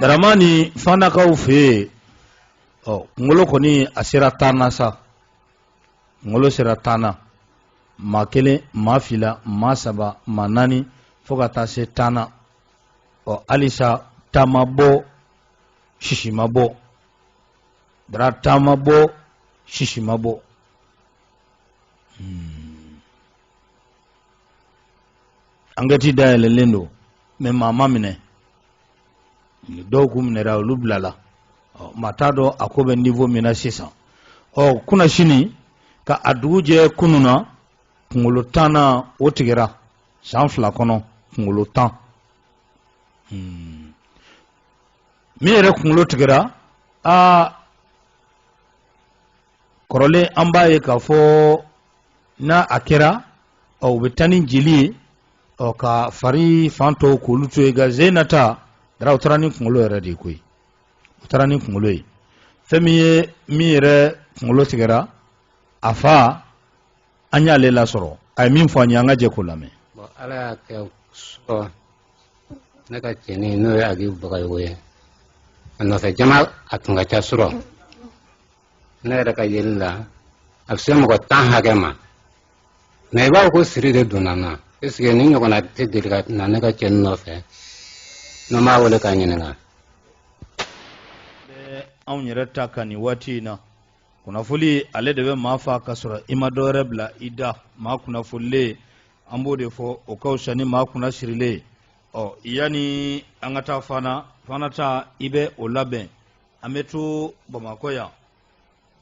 daramani fanakaw fɛ yen ɔ kungolo kɔni a sera tan na sa kungolo sera tan na maa kelen maa fila maa saba maa naani fo ka taa se tan na ɔ halisa ta ma bɔ sisi ma bɔ dara ta ma bɔ sisi ma bɔ. Hmm. ankɛti dayɛlɛlen don mɛ maa ma minɛ dɔw k'u minɛra olu bilala maa t'a dɔn a ko bɛ nivo min na sisan ɔ kunasini ka a dugu jɛ kunun na kunkolo tannan o tigɛra san fila kɔnɔ kunkolo tan hmm. min yɛrɛ kunkolo tigɛra aa kɔrɔlen an b'a ye k'a fɔ n'a a kɛra ɔ u bɛ taa ni jeli ye ɔ ka fari fan tɔw k'olu to yen nka sen in na ta dara u taara ni kunkolo yɛrɛ de ye koyi u taara ni kunkolo ye fɛn min ye min yɛrɛ kunkolo tigɛra a fa an y'ale lasɔrɔ a ye min fɔ an ye an ka jɛ k'o lamɛn. ala y'a kɛ surɔ ne ka cɛnin n'o ye agibu bagayogo ye a nɔfɛ jama a tun ka ca surɔ ne yɛrɛ ka yeli la a bɛ se mɔgɔ tan hakɛ ma mɛ i b'a fɔ ko siri de donna n na esike nin ɲɔgɔnna tɛ deli ka na ne ka cɛnin nɔfɛ ne m'a wele k'a ɲininka anw yɛrɛ ta ka nin waati in na kunnafoli ale de bɛ maa fa ka sɔrɔ i ma dɔwɛrɛ bila i da maa kunnafolilen an b'o de fɔ o ka fisa ni maa kunna sirilen ɔ yanni an ka taa fana fana ta i bɛ o labɛn an bɛ to bamakɔ yan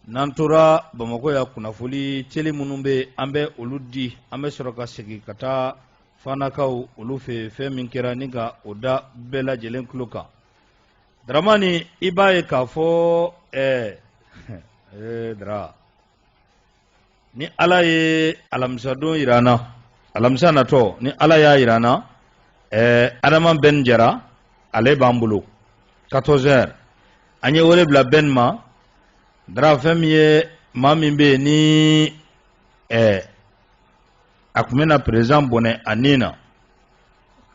n'an tora bamakɔ yan kunnafoli teli minnu bɛ an bɛ olu di an bɛ sɔrɔ ka segin ka taa fanakaw olu fɛ fɛn min kɛra ni ka o da bɛɛ lajɛlen tulo kan daramani i b'a ye k'a fɔ ɛɛ ee dara ni ala ye alamisadon jira an na alamisa natɔ ni ala y'a jira an na ɛɛ adama bɛn jara ale b'an bolo 14 heures an ye wele bila bɛn ma dara fɛn min ye maa min bɛ yen ni ɛɛ a tun bɛna perezidan bɔnɛ a nin na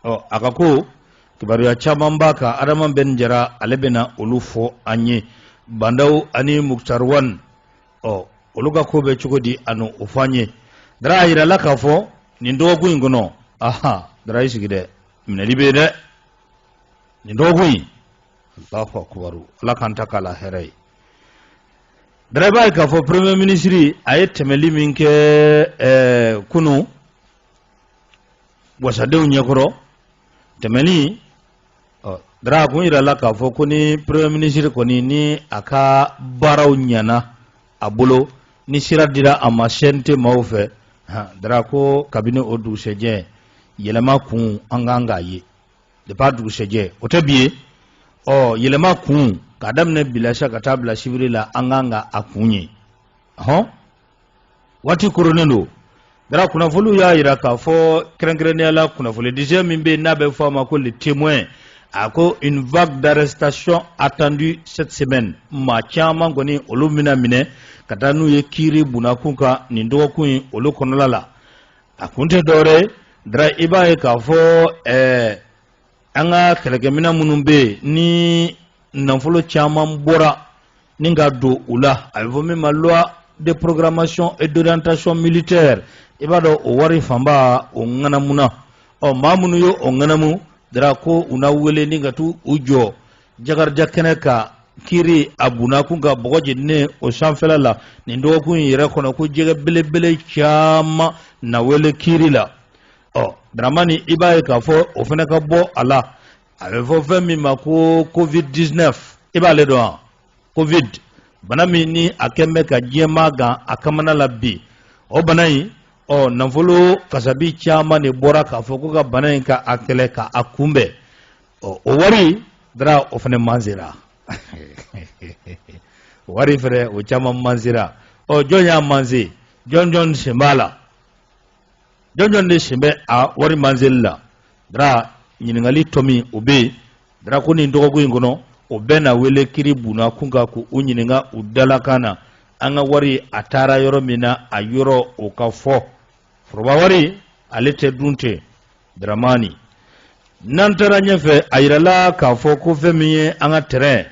ɔ a ka ko kibaruya caman b'a kan adama bɛn jara ale bɛna olu fɔ an ye ba ndaw ani mukutari wan ɔ olu ka ko bɛ cogo di a n'o fɔ an ye dara a yirala k'a fɔ nin dɔgɔkun in kɔnɔ aha dara i sigi dɛ minɛli bɛ yen dɛ nin dɔgɔkun in alahu akubaru ala k'an ta k'a la hɛrɛ ye Dara i b'a ye k'a fɔ premier minisiri a ye tɛmɛli min kɛ ɛɛ kunun wasadenw ɲɛkɔrɔ tɛmɛli ɔ dara a kun yira la k'a fɔ ko ni premier minisiri kɔni ni a ka baaraw ɲɛna a bolo ni sira dira a ma CNT maaw fɛ han dara ko kabini o dugusɛjɛ yɛlɛma kun an kan k'a ye. depuis a dugusɛjɛ o tɛ bi ye ɔ yɛlɛma kun k'a daminɛ bi la sa ka taa bila sibiri la an kan ka a kun ye hɔn waati koronnen don dara kunnafoniw y'a yira k'a fɔ kɛrɛnkɛrɛnnenya la kunnafoni disɛ min bɛ yen n'a bɛ fɔ a ma ko le témoin a ko une vague d'arrestation attendue cette semaine maa caman kɔni olu bɛna minɛ ka taa n'u ye kiiri bunakun kan nin dɔgɔkun in olu kɔnɔla la a kun tɛ dɔwɛrɛ ye dara i b'a ye k'a fɔ ɛɛ an ka kɛlɛkɛminɛn minnu bɛ yen ni nafolo caman bɔra ni ka don u la a bɛ fɔ min ma loi de programmation et d'orientation militaire i b'a dɔn o wari fanba o ŋanamuna ɔ maa minnu ye o ŋanamu dara ko u na wele ni ka t'u jɔ jakarija kɛnɛ kan kiiri a bunakun kan bɔgɔ jeninen o sanfɛla la nin dɔgɔkun in yɛrɛ kɔnɔ ko jɛgɛ belebele caman na wele kiiri la ɔ daramani i b'a ye k'a fɔ o fana ka bɔ a la a bɛ fɔ fɛn min ma ko covid 19 i b'ale dɔn wa covid bana min ni a kɛn bɛ ka diɲɛmaa gan a kamana la bi o bana in ɔ nafolo kasabi caman de bɔra k'a fɔ ko ka bana in ka a kɛlɛ ka a kunbɛn ɔ o wari dara o fana manzera wari fɛnɛ o caman manzera ɔ jɔn y'a manze jɔn jɔn sen b'a la jɔn jɔn de sen bɛ a wari manzeli la dara ɲininkali tomi o bɛ yen dara ko nin dɔgɔkun in kɔnɔ o bɛɛ na wele kiiri bunakun kan ko u ɲininka u dalakan na an ka wari a taara yɔrɔ min na a yɔrɔ o ka fɔ foroba wari ale tɛ dun ten dramani n'an taara ɲɛfɛ a yirala k'a fɔ ko fɛn min ye an ka tɛrɛn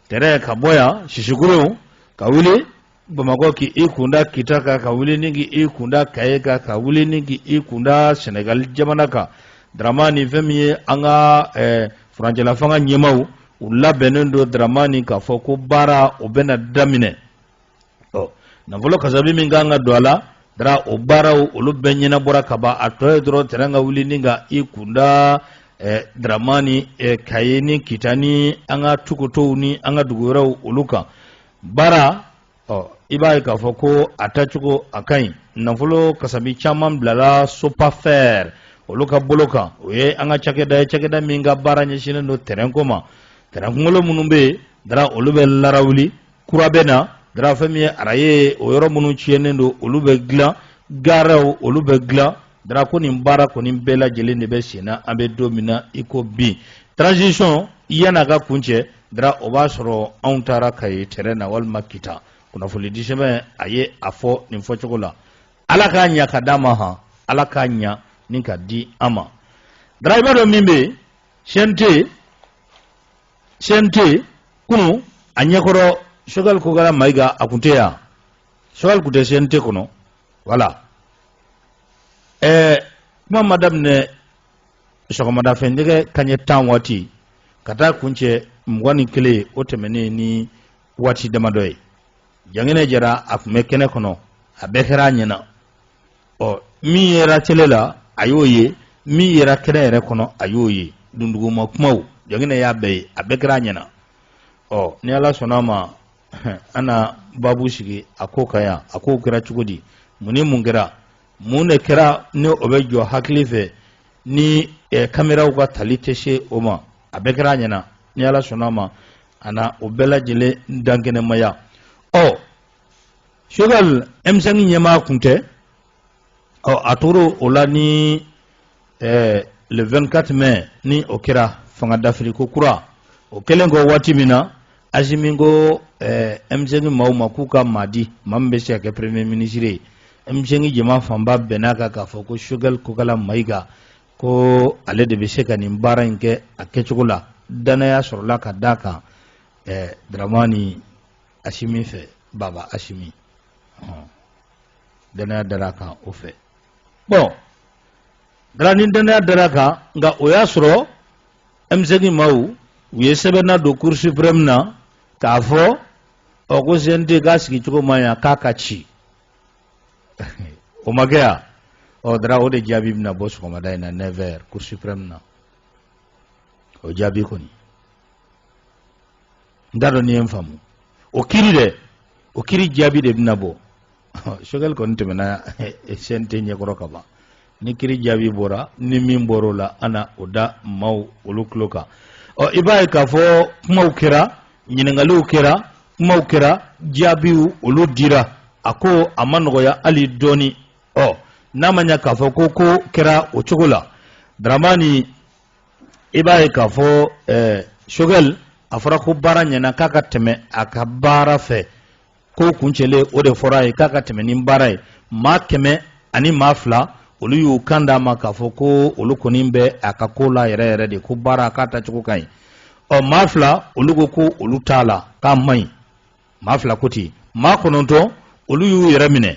tɛrɛn ka bɔ yan sisikuru ka wuli bamakɔ k'i kunda kita kan ka wuli ni k'i kunda kaye kan ka wuli ni k'i kunda sɛnɛgali jamana kan dramani fɛn min ye an ka eh, furancɛlafanga ɲɛmaaw u labɛnnen don dramani k'a fɔ ko baara o bɛna daminɛ ɔ nafolo kasabi min kan ka don a la dara o baaraw olu bɛɛ ɲɛnabɔra ka ban a tɔ ye dɔrɔn tɛrɛn ka wuli ni ka i kunda eh, dramani eh, kaye ni kita ni an ka tukotow ni an ka dugu wɛrɛw olu kan dara ɔ i b'a ye k'a fɔ ko a taacogo a ka ɲi nafolo kasabi caman bilala sopafɛr olu ka bolo kan o ye an ka cakɛda ye cakɛda min ka baara ɲɛsinnen don tɛrɛnko ma tɛrɛn kunkolo minnu bɛ yen dara olu bɛ larawuli kura bɛ na dara fɛn min ye araye o yɔrɔ minnu tiɲɛnen don olu bɛ dilan gariw olu bɛ dilan dara ko nin baara kɔni bɛɛ lajɛlen de bɛ sen na an bɛ don min na i ko bi transition yan'a ka kuncɛ dara o b'a sɔrɔ anw taara kaye tɛrɛn na walima kita kunnafonidisɛbɛn a ye a fɔ nin fɔcogo la ala k'a ɲa ka d'a ma han ala k'a ɲa ni ka di an ma dara i b'a dɔn min bɛ yen CNT yen CNT kunu a ɲɛkɔrɔ Choguel Kokala Mayiga a kun tɛ yan Choguel kun tɛ CNT kɔnɔ voilà ɛɛ kuma ma daminɛ sɔgɔmadafɛ nɛgɛ kanɲɛ tan waati ka taa kuncɛ mugan ni kelen o tɛmɛnen ni waati damadɔ ye jangɛnɛ jara a kun bɛ kɛnɛ kɔnɔ a bɛɛ kɛra a ɲɛna ɔ min yera tele la a y'o ye min yera kɛnɛ yɛrɛ kɔnɔ a y'o ye dunduguma kumaw jangɛnɛ y'a bɛɛ ye a bɛɛ kɛra a ɲɛna ɔ ni ala sɔnna a ma an na babu sigi a ko kan yan a kow kɛra cogo di mun ni mun kɛra mun de kɛra ni o bɛ jɔ hakili fɛ ni eh, kameraw ka tali tɛ se o ma a bɛɛ kɛra a ɲɛna ni ala sɔnna a ma a na o bɛɛ lajɛlen dankɛnɛmaya ɔ Choguel M5 ɲɛmaa kun tɛ ɔ a tora o la ni ɛɛ le 24 mai ni o kɛra fanga dafiriko kura o kɛlen kɔ waati min na asimi ko ɛɛ M5 maaw ma k'u ka maa di maa min bɛ se ka kɛ premier ministre ye M5 jama fanba bɛnna kan k'a fɔ ko Choguel kokala mayiga ko ale de bɛ se ka nin baara in kɛ a kɛcogo la danaya sɔrɔla ka d'a kan ɛɛ daramani asimi fɛ baba asimi ɔn danaya dara kan o fɛ bon dara ni danaya dara kan nka o y'a sɔrɔ M5 maaw u ye sɛbɛn nadon cour suprême na k'a fɔ ɔ ko cnt k'a sigicogo ma ɲa k'a ka ci o ma kɛ yan ɔ dara o de jaabi bɛna bɔ sɔgɔmada in na 9 heures cour suprême na o jaabi kɔni n t'a dɔn n'i ye n faamu o kiri dɛ o kiri jaabi de bɛna bɔ Choguel kɔni tɛmɛna CNT ɲɛkɔrɔ ka ban ni kiri jaabi bɔra ni min bɔra o la an na o da maaw olu tulo kan ɔ i b'a ye k'a fɔ kumaw kɛra ɲininkaliw kɛra kumaw kɛra jaabiw olu dira a ko a ma nɔgɔya hali dɔɔni ɔ n'a ma ɲa k'a fɔ ko ko kɛra o cogo la daramani i b'a ye k'a fɔ Choguel a fɔra ko baara ɲɛna k'a ka tɛmɛ a ka baara fɛ ko kuncɛlen o de fɔra a ye k'a ka tɛmɛ ni baara ye maa kɛmɛ ani maa fila olu y'u kan d'a ma k'a fɔ ko olu kɔni bɛ a ka ko la yɛrɛ yɛrɛ de ko baara k'a tacogo ka ɲi ɔ maa fila olu ko ko olu t'a la k'a man ɲi maa fila ko ten maa kɔnɔntɔn olu y'u yɛrɛ minɛ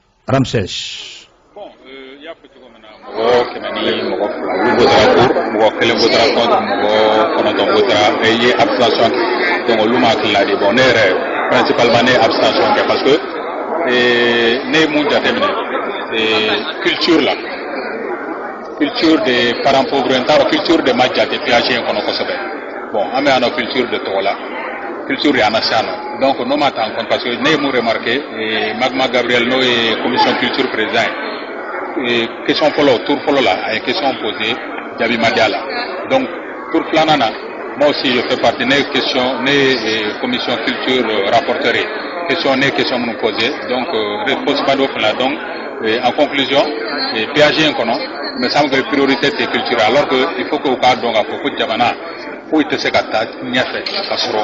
ramses bon i y'a fɔ cogo min na mɔgɔ kɛmɛ ni mɔgɔ fila olu votera pour mɔgɔ kelen votera contre mɔgɔ kɔnɔntɔn votera u ye abstention kɛ donc olu ma tilala de bon ne yɛrɛ principalement ne ye abstention kɛ parce que ne ye mun jateminɛ culture la culture de parent pauvre n t'a dɔn culture de ma jate PAG in kɔnɔ kosɛbɛ bon an bɛ yan nɔ culture de tɔgɔ la culture de y'an lase yan nɔ donc n'o ma ta en compte parce que ne ye mun remarqué eh, magma gabriel n'o ye commission culture président ye eh, question fɔlɔ tour fɔlɔ la a ye question posé jaabi ma di a la donc tour filanan na moi aussi je fais partie ne ye question ne ye eh, commission culture euh, rapporteur ye question ne ye question minnu posé donc euh, réponse ma d'o fana donc Et en conclusion, eh PAG in kɔnɔ me semble que priorité tɛ culture alors que il faut que u k'a dɔn k'a fɔ ko jamana foyi tɛ se ka taa ɲɛfɛ ka sɔrɔ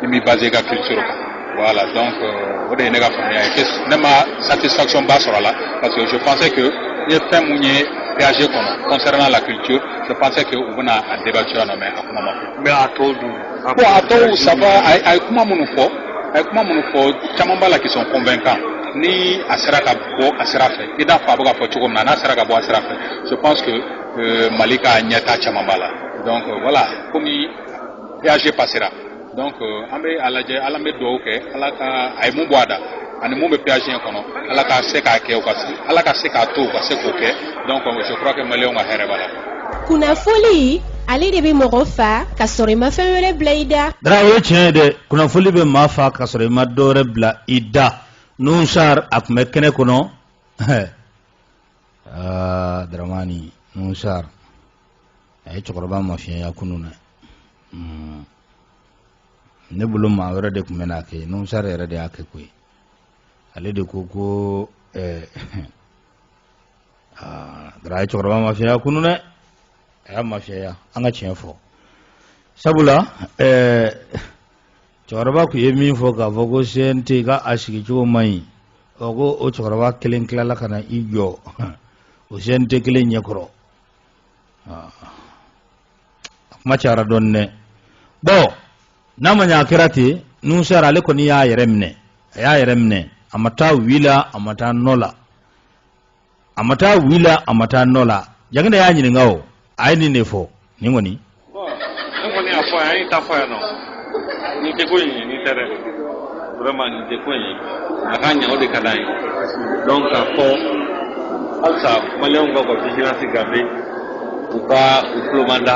i m'i basé i ka culture kan voilà donc euh, o de ye ne ka faamuya ye ne ma satisfaction ba sɔrɔ a la parce que je pensais que n ye fɛn mun ye PAG kɔnɔ concernant la culture je pensais que u bɛna a débattu yan nɔ mais a kuma ma kɛ n bɛ a tɔ dun Bon a tɔw ça va a ye kuma minnu fɔ a ye kuma minnu fɔ caman b'a la qui sont convaincants ni a sera ka bɔ a sira fɛ i n'a fɔ a bɛ ka fɔ cogo min na n'a sera ka bɔ a sira fɛ je pense que euh, Mali ka ɲɛta caman b'a la donc euh, voilà komi PAG passera donc euh, an bɛ a lajɛ an bɛ dugawu kɛ ala ka a ye mun bɔ a da ani mun bɛ PAG in kɔnɔ ala ka se k'a kɛ u ka ala ka se k'a to u ka se k'o kɛ donc je crois que maliyɛnw ka hɛrɛ b'a la kunnafoli ale de bɛ mɔgɔ fa ka sɔrɔ i ma fɛn wɛrɛ bila i da. dara o ye tiɲɛ ye dɛ kunnafoli bɛ maa fa ka sɔrɔ i ma dɔ wɛrɛ bila i da Nouhoum Sarr a tun bɛ kɛnɛ kɔnɔ aa daramani Nouhoum Sarr a ye cɛkɔrɔba mafiɲɛya kunun dɛ hmm. ne bolo maa wɛrɛ de tun bɛn'a kɛ Nouhoum Sarr yɛrɛ de y'a kɛ koyi ale de ko ko ɛɛ. Eh, aa dara a ye cɛkɔrɔba mafiɲɛya kunun dɛ a y'a mafiɲɛya an ka tiɲɛ fɔ sabula ɛɛ cɛkɔrɔba tun ye min fɔ k'a fɔ ko CNT ka a sigicogo man ɲi ɔ ko o cɛkɔrɔba kelen tilala ka na i jɔ o CNT kelen ɲɛkɔrɔ a kuma cayara dɔɔnin dɛ bɔn n'a ma ɲɛ a kɛra ten Nouhoum Sarr ale kɔni y'a yɛrɛ minɛ a y'a yɛrɛ minɛ a ma taa oui la a ma taa non la a ma taa oui la a ma taa non la jagida y'a ɲininka o a ye nin de fɔ nin kɔni ne kɔni y'a fɔ a y'a ta fɔ yan nɔ nin tɛ ko in ye nin tɛ dɛ vraiment nin tɛ ko in ye a ka ɲɛ o de ka d'an ye donc k'a fɔ halisa maliyɛnw ka ka vigilance garder u ka u tulomada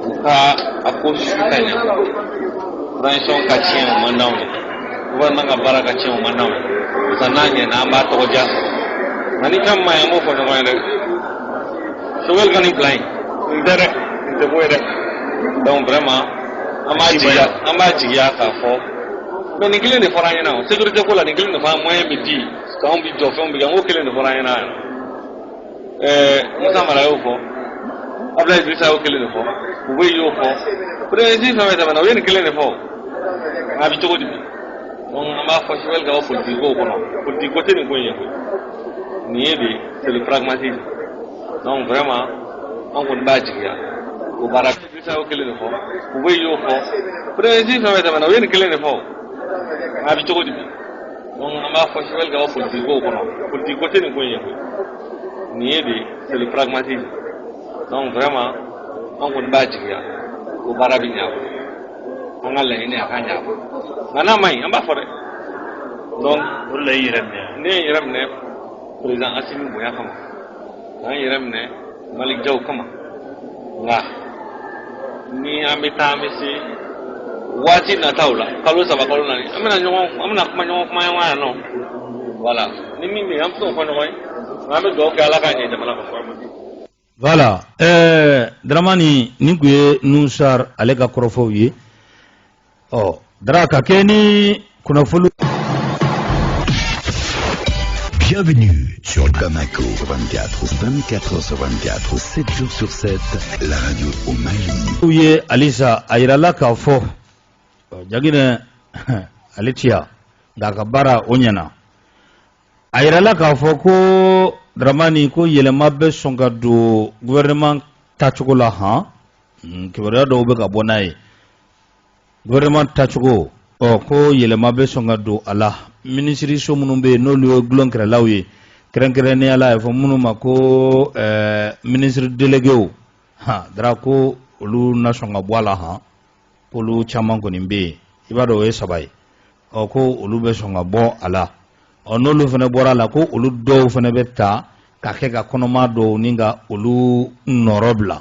u ka a kɔlɔsi ka ɲɛ transition ka tiɲɛ o man d'anw ye gouvernement ka baara ka tiɲɛ o man d'anw ye barisa n'a ɲɛna an b'a tɔgɔ diya nka ni ko man ɲi an b'o fɔ ɲɔgɔn ye dɛ sogɛli ka nin bila yen nin tɛ dɛ nin tɛ ko ye dɛ donc vraiment an b'a jigiya an b'a jigiya k'a fɔ mais nin kelen de fɔra an ɲɛ na o sécurité ko la nin kelen de fɔra moyen bɛ di k'anw bɛ jɔ fɛnw bɛ kɛ n ko kelen de fɔra an ɲɛ na yan ɛɛ musa mara y'o fɔ abudulayi dirisa y'o kelen de fɔ u bɛɛ y'o fɔ perezidan fɛn fɛn tɛmɛna u ye nin kelen de fɔ a bɛ cogo di bi donc an b'a fɔ sogɛli ka bɔ politiki kow kɔnɔ politiki ko tɛ nin ko in ye koyi nin ye de c'est le pragmatisme donc vraiment an kɔni b'a jigiya o baara Isa o kelen de fɔ u bɛɛ y'o fɔ président fɛn fɛn tɛmɛna u ye nin kelen de fɔ a bɛ cogo di bi donc an b'a fɔ sogɛli ka bɔ politigi ko kɔnɔ politigi ko tɛ nin ko ye koyi nin ye de c'est le pragmatisme donc vraiment an kɔni b'a jigiya ko baara bɛ ɲa an ka laɲini a ka ɲa nka n'a man ɲi an b'a fɔ dɛ donc o de la i yɛrɛ minɛ ne ye n yɛrɛ minɛ président asimi bonya kama k'an yɛrɛ minɛ maliki jaw kama nka ni an bɛ taa an bɛ se waati nataw la kalo saba kalo naani an bɛna ɲɔgɔn an bɛna kuma ɲɔgɔn kuma ɲɔgɔn yan nɔ voilà ni min bɛ yen an bɛ se k'o fɔ ɲɔgɔn ye nka an bɛ dugawu kɛ ala k'a ɲɛ jamana ka fura ma di. voilà ɛɛ daramani nin tun ye nuhun sar ale ka kɔrɔfɔw ye. ɔ dara ka kɛ ni kunnafoni Bienvenue sur Bamako 24, 24 sur 24, 7 jours sur 7, la radio au Mali. u ye halisa a yirala k'a fɔ ɔ, jaginɛ ale tiya nka a ka baara o ɲɛna a yirala k'a fɔ ko daramani ko yɛlɛma bɛ sɔn ka don gouvernement tacogo la han Mm, kibaruya dɔw bɛ ka bɔ n'a ye gouvernement tacogo ɔ ko yɛlɛma bɛ sɔn ka don a la minisiriso minnu bɛ yen n'olu ye dulonkɛrɛlaw ye kɛrɛnkɛrɛnnenya la a bɛ fɔ minnu ma ko ɛɛ minisiri delegew han dara ko olu na sɔn ka bɔ a la han k'olu caman kɔni bɛ yen i b'a dɔn o ye saba ye ɔ ko olu bɛ sɔn ka bɔ a la ɔ n'olu fana bɔra a la ko olu dɔw fana bɛ ta ka kɛ ka kɔnɔma dɔw ɲini ka olu nɔrɔ bila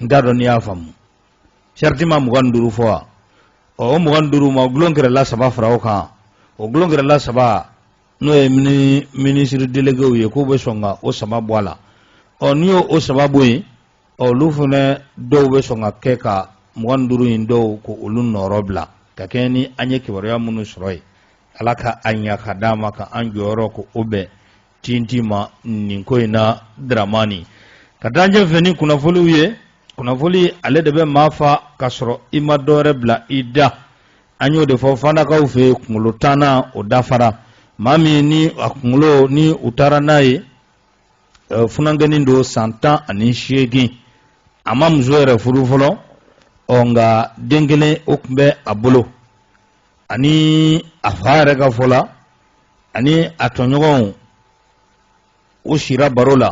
n t'a dɔn n'i y'a faamu sariti ma mugan ni duuru fɔ wa ɔ o mugan ni duuru ma gulon kɛrɛla saba fara o kan o gulon kɛrɛla saba n'o ye minisiri delegew ye k'u bɛ sɔn ka o saba bɔ a la ɔ n'i y'o o saba bɔ yen ɔ olu fana dɔw bɛ sɔn ka kɛ ka mugan ni duuru in dɔw ko olu nɔrɔbila ka kɛɲɛ ni an ye kibaruya minnu sɔrɔ ye ala ka a ɲa ka d'a ma ka an jɔyɔrɔ ko o bɛn Tinti ma nin ko in na dramani ka taa ɲɛfɛ ni kunnafoniw ye kunnafoni ale de bɛ maa fa ka sɔrɔ i ma dɔwɛrɛ bila i da an y'o de fɔ fanakaw fɛ kunkolo tannan o dafara maa min ni a kunkolo ni u taara n'a ye eh, funankɛnin don san tan ani seegin a ma muso yɛrɛ furu fɔlɔ ɔ nka den kelen o tun bɛ a bolo ani a fa yɛrɛ ka fɔ la ani a tɔɲɔgɔnw u sira baro la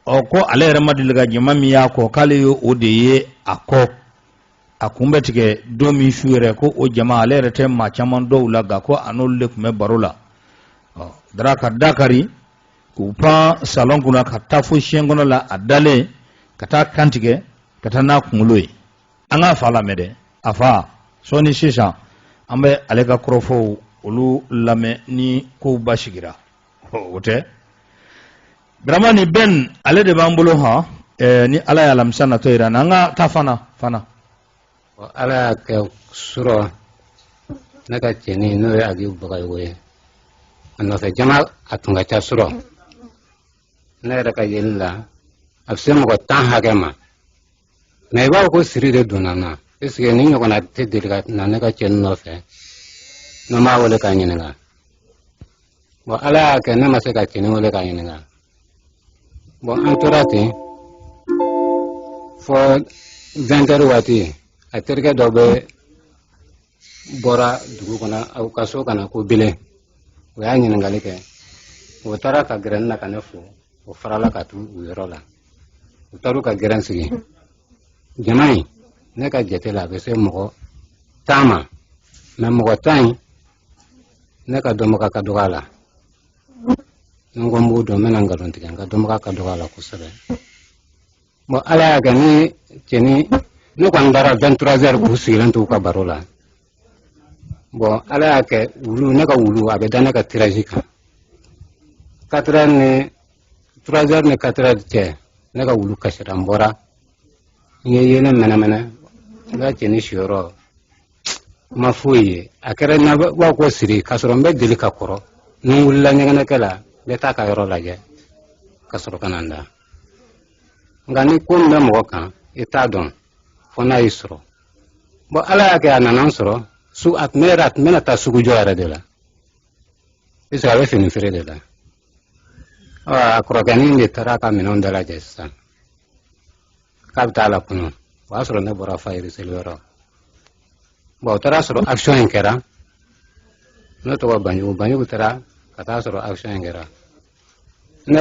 ɔ ko ale yɛrɛ ma deli ka jama min y'a kɔ k'ale ye o de ye a kɔ a kun bɛ tigɛ don min su yɛrɛ ko o jama ale yɛrɛ tɛ maa caman dɔn a la nka ko a n'olu de tun bɛ baro la ɔ dara ka da kari k'u pan salɔn kunna ka taa fo siɲɛ kɔnɔ la a dalen ka taa a kan tigɛ ka taa n'a kunkolo ye an k'a fa lamɛn dɛ a fa sɔɔni sisan an bɛ ale ka kɔrɔfɔw olu lamɛn ni kow basigira o tɛ dramani bɛn ale de b'an bolo hɔn eh, ni ala ye alamisa natɔ yira an ka taa fana fana ala y'a kɛ surɔ ne ka cɛnin n'o ye agibu bagayogo ye a nɔfɛ jama a tun ka ca surɔ ne yɛrɛ ka yeli la a bɛ se mɔgɔ tan hakɛ ma mɛ i b'a fɔ ko siri de donna n na paseke nin ɲɔgɔnna tɛ deli ka na ne ka cɛnin nɔfɛ ne m'a wele k'a ɲininka bɔn ala y'a kɛ ne ma se ka cɛnin wele k'a ɲininka bɔn an tora ten fɔ 20 heures waati a terikɛ dɔ bɛ bɔra dugu kɔnɔ aw ka so ka na ko bile o y'a ɲininkali kɛ o taara ka gɛrɛn na ka ne fo o farala ka tu u yɔrɔ la u taara u ka gɛrɛn sigi jama in ne ka jate la a bɛ se mɔgɔ tan ma mɛ mɔgɔ tan in ne ka dɔnbaga ka dɔgɔ a la ni n ko n b'u dɔn n bɛna nkalon tigɛ n ka dɔnbaga ka dɔgɔ a la kosɛbɛ Bon ala y'a kɛ ni cɛnin ne kɔni dara 23 heures k'u sigilen to u ka baro la bɔn ala y'a kɛ wulu ne ka wulu a bɛ da ne ka tiraji kan 4 heures ni 3 heures ni 4 heures cɛ ne ka wulu kasira n bɔra n ye yeelen mɛnɛmɛnɛ n ka cɛnin siyɔrɔ n ma foyi ye a kɛra n na b'a ko siri k'a sɔrɔ n bɛ deli ka kɔrɔ ni n wulila ɲɛgɛnɛkɛ la n bɛ taa a ka yɔrɔ lajɛ ka sɔrɔ ka na n da nka ni ko min bɛ mɔgɔ kan i t'a dɔn fo n'a y'i sɔrɔ bon ala y'a kɛ a nana n sɔrɔ su a tun bɛ yɛrɛ a tun bɛna taa sugu jɔ yɛrɛ de la puisque a bɛ fini feere de la a kɔrɔkɛnin de taara a ka minɛnw dalajɛ sisan k'a bɛ taa la kunu o y'a sɔrɔ ne bɔra fajiri seli yɔrɔ bon o taara sɔrɔ action in kɛra ne tɔgɔ banjugu banjugu taara ka taa sɔrɔ action in kɛra ne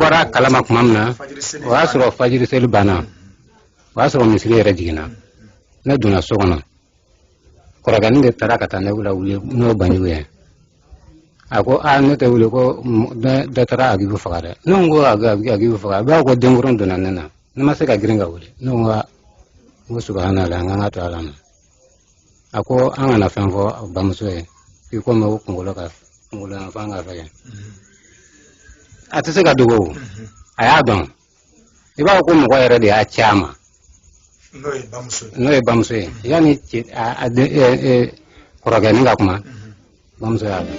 bɔra a kalama tuma min na o y'a sɔrɔ fajiri seli banna o y'a sɔrɔ misiri yɛrɛ jiginna ne donna so kɔnɔ kɔrɔkɛnin de taara ka taa ne lawuli n'o banjugu ye a ko a ne tɛ wuli ko dɔ taara agibu faga dɛ ne ko agibu faga a b'a ko denkurun donna ne na ne ma se ka girin ka wuli ne ko n ko subahanalahi n k'an k'a to ala ma a ko an kana fɛn fɔ bamuso ye i komi o kunkolo ka kunkolo yan fan ka fɛgɛn a tɛ se ka dogo o a y'a dɔn i b'a fɔ ko mɔgɔ yɛrɛ de y'a ci a ma n'o ye bamuso ye yanni kɔrɔkɛnin ka kuma bamuso y'a dɔn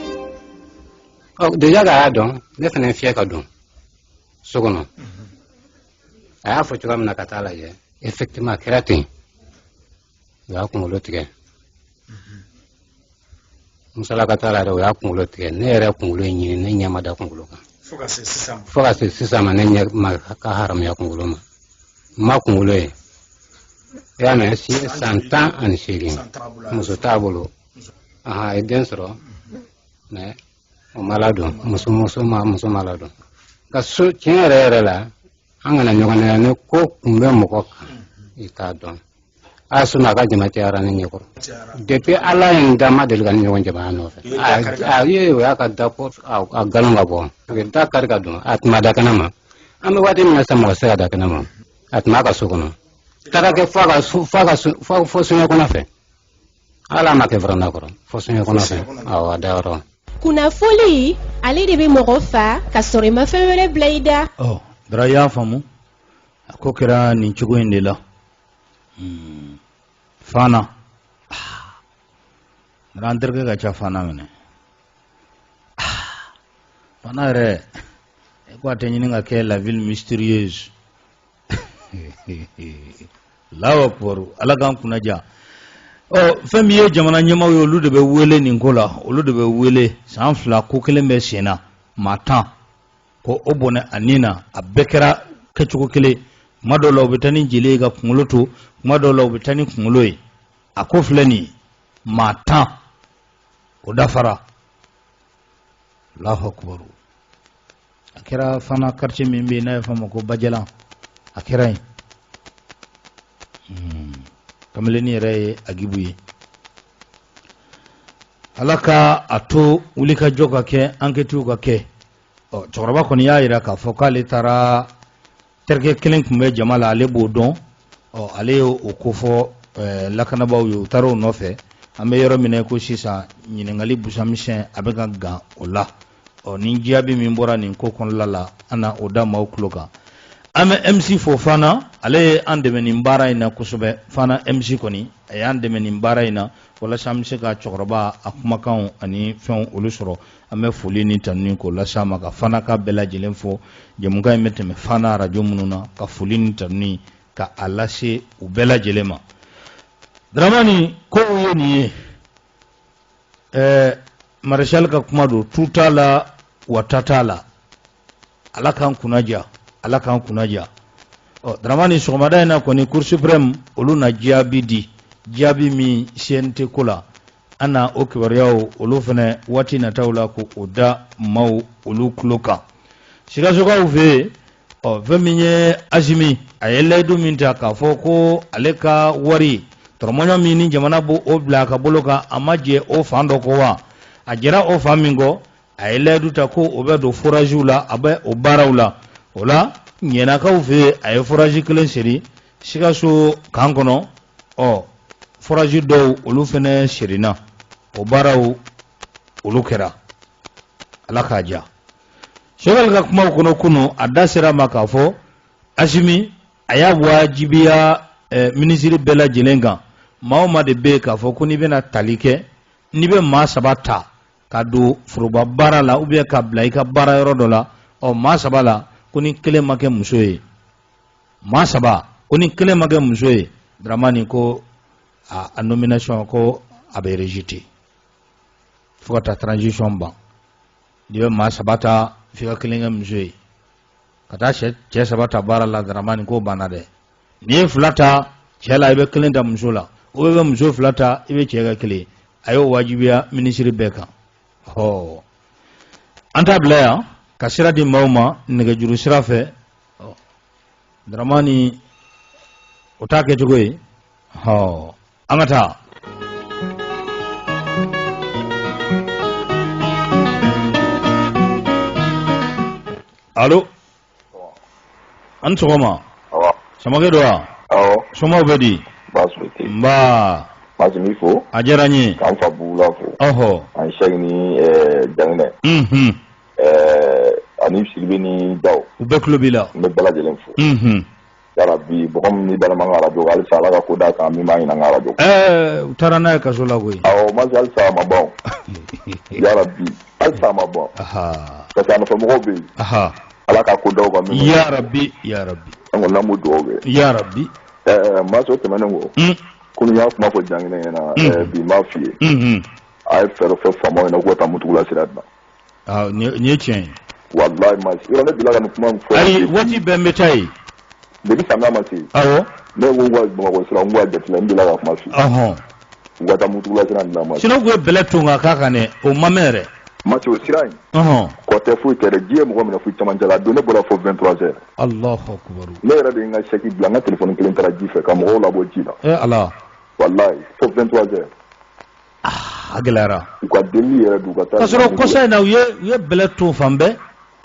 déjà k'a y'a dɔn ne fana ye fiyɛ ka don so kɔnɔ a y'a fɔ cogoya min na ka taa a lajɛ effectivement a kɛra ten u y'a kunkolo tigɛ musalaka t'a la yɛrɛ o y'a kunkolo tigɛ ne yɛrɛ kunkolo in ɲini ne ɲɛ ma da kunkolo kan fo ka se sisan ma ne ɲɛ ma ka haramuya kunkolo ma n ma kunkolo ye i y'a mɛn si ye san tan ani seegin muso t'a bolo a ye den sɔrɔ mais o ma ladon muso muso ma muso ma ladon ka so tiɲɛ yɛrɛ yɛrɛ la an kana ɲɔgɔn nɛgɛn ni ko kun bɛ mɔgɔ kan i t'a dɔn a sɔnna a ka jama cayara ne ɲɛ kɔrɔ depuis ala ye n da n ma deli ka nin ɲɔgɔn jama nɔfɛ a ye o y'a ka da ko a galon ka bɔ da kari ka don a tun ma da kɛnɛ ma an bɛ waati min na sisan mɔgɔ tɛ se ka da kɛnɛ ma a tun b'a ka so kɔnɔ taara kɛ fo a ka fo a ka fo soɲɛ kɔnɔ fɛ hali a ma kɛ véranda kɔrɔ fo soɲɛ kɔnɔ fɛ awɔ a dayɔrɔ kunnafoli ale de bɛ mɔgɔ fa ka sɔrɔ i ma fɛn wɛrɛ bila i da ɔ dara i y'a faamu a ko kɛra nin cogo in de la hmm. fana dara an terikɛ ka ca fana minɛ fana yɛrɛ ko a tɛ ɲini ka kɛ la ville mystérieuse alahu akubaru ala k'an kunnaja ɔ fɛn min ye jamana ɲɛmaaw ye olu de bɛ wele nin ko la olu de bɛ wele san fila ko kelen bɛ sen na maa tan ko o bɔnɛ a ni na a bɛɛ kɛra kɛcogo kelen kuma dɔw la u bɛ taa ni jeli ye ka kunkolo to kuma dɔw la u bɛ taa ni kunkolo ye a ko filɛ nin ye maa tan o dafara alahu akubaru a kɛra fana kartiye min bɛ yen n'a ye fɔ a ma ko bajalan a kɛra yen hmm. kamalennin yɛrɛ ye agibu ye ala ka a to wulikajɔ ka kɛ ankɛtiw ka kɛ cɛkɔrɔba kɔni y'a jira k'a fɔ k'ale taara terikɛ kelen tun bɛ jama la ale b'o dɔn ɔ ale ye o ko fɔ eh, lakanabaaw ye u taara o nɔfɛ an bɛ yɔrɔ min na ko sisan ɲininkali busamisɛn a bɛ ka gan o la ɔ ni jaabi min bɔra nin ko kɔnɔla la an na o da maaw tulo kan an bɛ mc fo fana ale ye an dɛmɛ nin baara in na kosɛbɛ fana mc kɔni a y'an dɛmɛ nin baara in na walasa an bɛ se ka cɛkɔrɔba a kumakanw ani fɛnw olu sɔrɔ an bɛ foli ni tanuni k'o lase a ma ka fana ka bɛɛ lajɛlen fo jɛmukan in bɛ tɛmɛ fana arajo minnu na ka foli ni tanuni ka a lase u bɛɛ lajɛlen ma dramani ko ye nin ye ɛɛ marechal ka kuma don tu t'a la wata t'a la ala k'an kunnaja ala k'an kunnaja ɔ daramani sɔgɔmada in na kɔni cour suprême olu na jaabi di jaabi min cnt ko la an na o kibaruyaw olu fana waati nataw la ko o da maaw olu tulo kan sikasokaw fɛ yen ɔ fɛn min ye asimi a ye layidu min ta k'a fɔ ko ale ka wari tɔrɔmɔɲɔ min ni jamana b'o o bila a ka bolo kan a ma jɛ o fan dɔ kɔ wa a jɛra o fan min kɔ a ye layidu ta ko o bɛ don foraziw la a bɛ o baaraw la o la ɲɛnakaw fɛ yen a ye forazi kelen seri sikaso kan kɔnɔ ɔ forazi dɔw olu fana serina o baaraw olu kɛra ala k'a diya sogɛli ka kumaw kɔnɔ kunu a da sera a ma k'a fɔ asimi a y'a wajibiya eh, minisiri bɛɛ lajɛlen kan maa o maa de bɛ yen k'a fɔ ko n'i bɛna tali kɛ n'i bɛ maa saba ta ka don foroba baara la ou bien ka bila i ka baara yɔrɔ dɔ la ɔ maa saba la ko ni kelen ma kɛ muso ye maa saba ko ni kelen ma kɛ muso ye daramani ko a nomination ko a bɛ rejeté fo ka taa transition ban n'i bɛ maa saba ta f'i ka kelen kɛ muso ye ka taa cɛ saba ta baara la daramani ko banna dɛ n'i ye fila ta cɛ la i bɛ kelen ta muso la ou bien muso fila ta i bɛ cɛ ka kelen a y'o wajibiya minisiri bɛɛ kan ɔ an t'a bila yan ka sira di maaw ma nɛgɛjuru sira fɛ daramani o t'a kɛcogo ye ɔ an ka taa alo An sɔgɔma samakɛ don wa somaw bɛ di nba masimi fo a diyara n ye k'an fa bugula fo ɔɔ an sɛki ni janginɛ ani sidibe ni daw u bɛɛ tulo b'i la n bɛ bɛɛ lajɛlen fo yarabi mɔgɔ min dalama n ka radio halisa ala ka ko d'a kan min b'a ɲini n ka radio u taara n'a ye kaso la koyi masi halisa a ma bɔ yarabi halisa a ma bɔ parce que a nɔfɛmɔgɔw bɛ yen ala ka ko d'aw kan amiina yarabi an kɔni an b'o dugaw kɛ yarabi masi o tɛmɛnen kɔ hmm. kunu n y'a kuma fɔ janginɛ ɲɛna hmm. bi n b'a f'i ye a ye fɛɛrɛ fɔ faamaw ɲɛna k'u ka taa mutugula sira dila nin ye tiɲɛ ye walayi masi yɔrɔ ne bila ka nin kuma fɔ ayi waati bɛɛ n bɛ taa yen depuis samiya ma se awɔ ne ko ko bamakɔ sira n ko a jateminɛ n bila ka kuma f'i ye ɔhɔn u ka taa mutugula sira dilan masi sinɔn u ye bɛlɛ ton ka k'a kan dɛ o ma mɛn yɛrɛ masi o sira in ɔhɔn kɔ tɛ foyi tɛ dɛ ji ye mɔgɔ minɛ fo camancɛ la a don ne bɔra fo 23 heures alahu akubaru ne yɛrɛ de ye n ka sɛki bila n ka telefɔni kelen taara ji fɛ ka mɔgɔw labɔ ji la ee ala walayi fo 23 heures a gɛlɛyara u ka delili yɛrɛ don u ka taa k'a sɔrɔ kɔsa in na u ye u ye bɛlɛ ton fan bɛɛ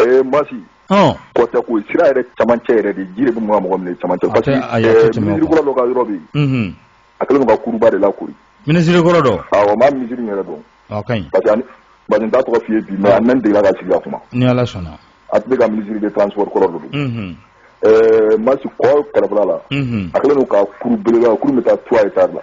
ee masi kɔ tɛ ko sira yɛrɛ camancɛ yɛrɛ de ji de bɛ mɔgɔ mɔgɔ minɛ camancɛ parce que minisiri kɔrɔ dɔ ka yɔrɔ bɛ yen a kɛlen don ka kuruba de lakori minisiri kɔrɔ dɔ awɔ n b'a minisiri yɛrɛ dɔn a ka ɲi parce que parce que n t'a tɔgɔ f'i ye bi mais a mɛn degela ka sigi ka kuma ni ala sɔnna a tun bɛ ka minisiri de transport kɔrɔ dɔ don ɛɛ masi kɔ kɛrɛfɛla la a kɛlen don ka kuru belebeleba kuru bɛ taa trois hectares la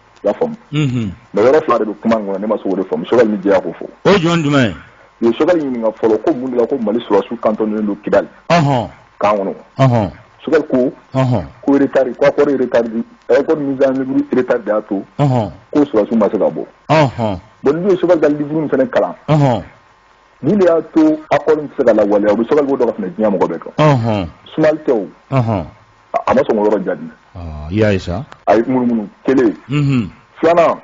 i y'a faamu mɛ yɔrɔ fila de bɛ kuma kɔnɔ ne ma se k'o de faamu sokali ni jɛya ko fɔ o yɔrɔ jumɛn ye u ye sokali ɲininka fɔlɔ ko mun de la ko mali sɔrɔsiw kantɔnnen don kidali kan kɔnɔ sokali ko ko retari ko akɔri retari de ɛ ko mise en œuvre retari de y'a to ko sɔrɔsiw ma se ka bɔ bɔn n'i ye sokali ka liburu fana kalan nin de y'a to akɔri tɛ se ka lawaleya o sokali b'o dɔn ka tɛmɛ diɲɛ mɔgɔ bɛɛ kan sumali tɛ o a ma sɔn k'o yɔrɔ jaabi i y'a ye sa a ye munumunu kelen filanan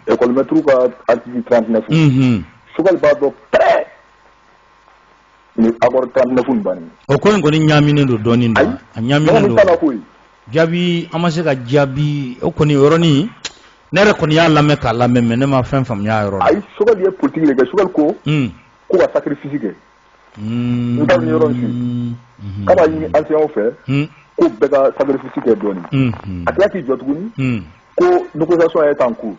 ekɔlimɛtiriw ka artikili 39 sokɛli b'a dɔn pɛ ni akɔri 39 in ban o ko in kɔni ɲaminen don dɔɔnin a ɲaminen don koyi jaabi a ma se k'a jaabi o kɔni o yɔrɔnin ne yɛrɛ kɔni y'a lamɛn k'a lamɛn mɛ ne ma fɛn faamuya yɔrɔ la a ye sokɛli ye politiki de kɛ sokɛli ko k'u ka sacrifice kɛ n ka nin yɔrɔ su k'a b'a ɲini ansɛɲanw fɛ ko bɛɛ ka sacrifice kɛ dɔɔnin a tila k'i jɔ tuguni ko négociation est en cours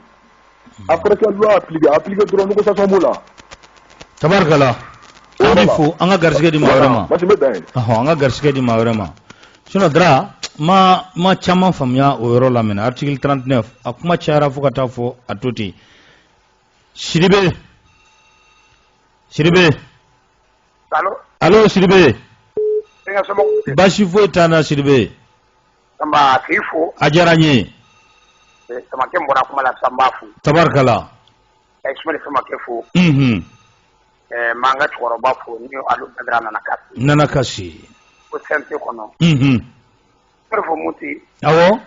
alors que loi a appliquer dɔrɔn négociation b'o la tabarikala an fo an ka garisɛgɛ di maa wɛrɛ ma an ka garisɛgɛ di maa wɛrɛ ma sinɔn dara an ma caman faamuya o yɔrɔ la mɛ artikili 39 a kuma cayara fo ka taa fɔ a to ten Sidibe Sidibe Allo Allo Sidibe Denkɛ somɔgɔw tɛ baasi foyi t'an na Sidibe Samba k'i fo a diyara n ye eh, Samakɛ n bɔra kuma la Samba fo tabarikala ka Ismail Samakɛ fo unhun eh, n b'an ka cɛkɔrɔba fo ni Alu Badara Nanakase Nanakase ko CNT kɔnɔ unhun n bɛ fo Moti awɔ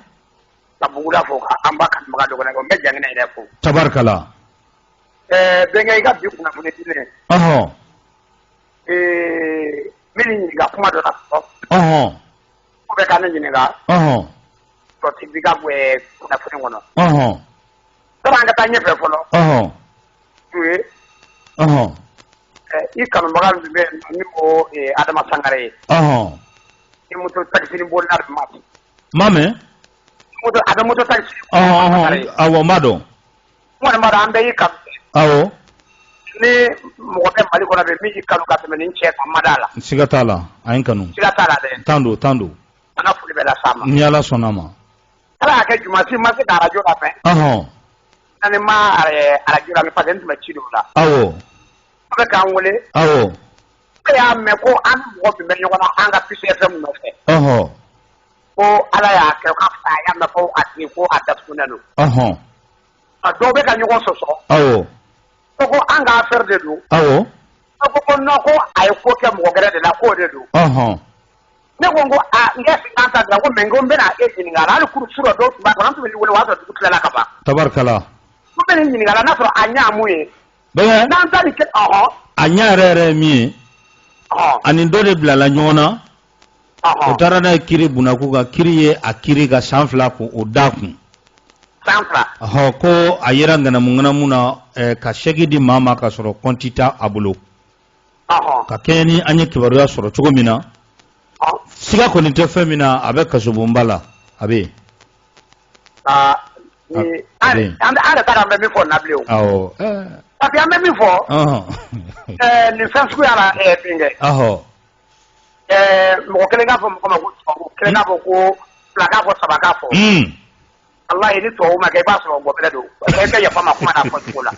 ka Bugula fo ka an ba kanubaga dɔgɔ n bɛ jan yɛrɛ fo tabarikala ɛɛ bɛnkɛ i ka bi kunnafoni di n ye ɔɔn ee n b'i ɲininka kuma dɔ la ɔɔn ko bɛ ka ne ɲininka ɔɔn sɔti bi ka kunnafoni kɔnɔ ɔɔn sani an ka taa ɲɛfɛ fɔlɔ ɔɔn Ture ɔɔn i kanubaga dɔ bɛ ni ko adama sangare ye ɔɔn i moto takisini bolila tuma n b'a mɛn. moto a bɛ moto takisi. ɔhɔn ɔhɔn awɔ n b'a dɔn. n kɔni b'a dɔn an bɛɛ y'i kanu. awɔ. ni mɔgɔ bɛ mali kɔnɔ bi min y'i kanu ka tɛmɛ nin cɛ kan n ma d'a la. siga t'a la a ye n kanu. siga t'a la dɛ. tan don tan don. an ka foli bɛ las'a ma. ni ala sɔnna a ma. ala y'a kɛ juma si n ma se ka arajo lamɛn. ɔhɔn. ani n ma arajo lamɛn parce que n tun bɛ ci dɔw la. awɔ. a bɛ k'an wele. awɔ. E y'a mɛn ko an mɔgɔ tun bɛ ɲɔgɔn na an ka Peace FM nɔfɛ ko ala y'a kɛ k'a fɔ a y'a mɛn ko a datugulen don a dɔw bɛ ka ɲɔgɔn sɔsɔ ko ko an ka affaire de don a ko ko ko a ye ko kɛ mɔgɔ wɛrɛ de la k'o de don ne ko ko n an ta ko mɛ ko n bɛna e ɲininka hali kunun surɔ dɔw tun tun bɛ wele waa dugu tilala ka ban tabarikala n b'i ɲininka n'a sɔrɔ a ɲa mun ye bɛɛ n'an ta nin kɛ ɔhɔn a ɲɛ yɛrɛ yɛrɛ ye min ye ɔhɔn ani dɔ de bilala ɲɔgɔn na o ɔhɔn taara n'a ye kiribon na k'u k'a kiri u y'a kiri ka san fila k'o da a kun san fila ɔhɔ ko a yera ŋanamuŋanamu na eh, ka sɛki di maa ma ka sɔrɔ kɔnti t'a a bolo ɔhɔn ka kɛɲɛ ni an ye kibaruya sɔrɔ cogo min na ɔhɔn siga kɔni tɛ fɛn min na a bɛ kasobonba la a bɛ yen aa Ee an taara an bɛ min fɔ nabila pa an bɛ min fɔ nin fɛn suguya la bɛnkɛ mɔgɔ kelen k'a fɔ mɔgɔ ma kelen k'a fɔ ko fila k'a fɔ saba k'a fɔ walayi ni tubabu ma kɛ i b'a sɔrɔ mɔgɔ don i ka yafa n ma kuma fɔ cogo la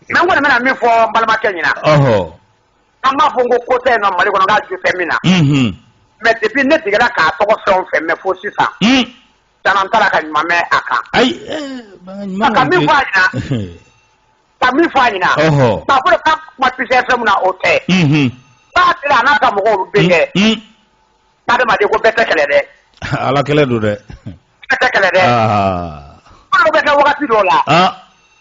mɛ n kɔni bɛna min fɔ n balimakɛ ɲɛna an b'a fɔ ko ko tɛ in nɔ mali kɔnɔ' ju fɛ min na mɛ depuis ne tigɛ k'a tɔgɔ fɛn o fɛn mɛn fo sisan caman taara ka ɲuman mɛn a kan ka min fɔ a ɲɛna a kan ka min fɔ a ɲɛna k'a fɔ ka kuma Peace FM na o tɛ ba sera n'a ka mɔgɔw bɛ kɛ adamaden ko bɛɛ tɛ kelen dɛ ala kelen don dɛ bɛɛ tɛ kelen dɛ ko bɛ kɛ wagati dɔ la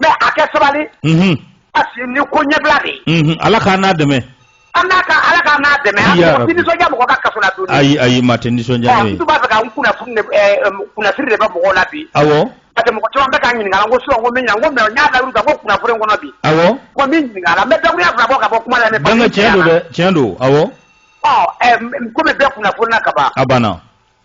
mais a kɛ sabali parce que ni ko ɲɛbila de ye ala k'an n'a dɛmɛ an n'a ka ala k'an n'a dɛmɛ an mɔgɔ tɛ nisɔndiya mɔgɔ ka kaso la don ayi ayi maa tɛ nisɔndiya n'o ye n b'a fɛ ka n kunnafoni de kunnasiri de bɛ mɔgɔw la bi awɔ parce que mɔgɔ caman bɛ k'an ɲininka ko sisan ko min ɲininka ko mais n y'a layiru ta ko kunnafoni in kɔnɔ bi awɔ ko min ɲininka a la n bɛ dakuruɲa fila bɔ ka bɔ kuma la ne bɛnkɛ tiɲɛ don dɛ tiɲɛ don awɔ ɔ komi bɛɛ kunnafoni na ka ban a banna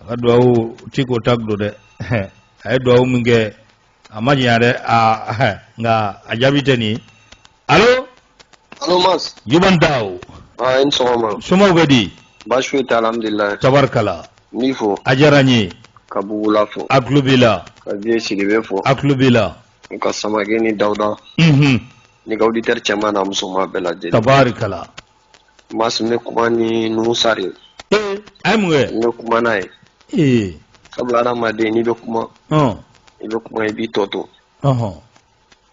a ka duwawu ti ko ta gulo dɛ a ye duwawu min kɛ a ma janya dɛ nka a jaabi tɛ nin ye alo alo mas juman daw i ni sɔgɔma somaw bɛ di baasi foyi tɛ alhamdulilayi tabarikala n b'i fo a diyara n ye ka bugula fo a tulo b'i la ka vieux sidibe fo a tulo b'i la ka samake ni dawuda ni ka auditeur cɛman n'a musoman bɛɛ lajɛlen tabarikala Mas ne kuma ni nusari a ye mun ne kuma n'a ye ee sabula adamaden n'i bɛ kuma i bɛ kuma i b'i tɔ to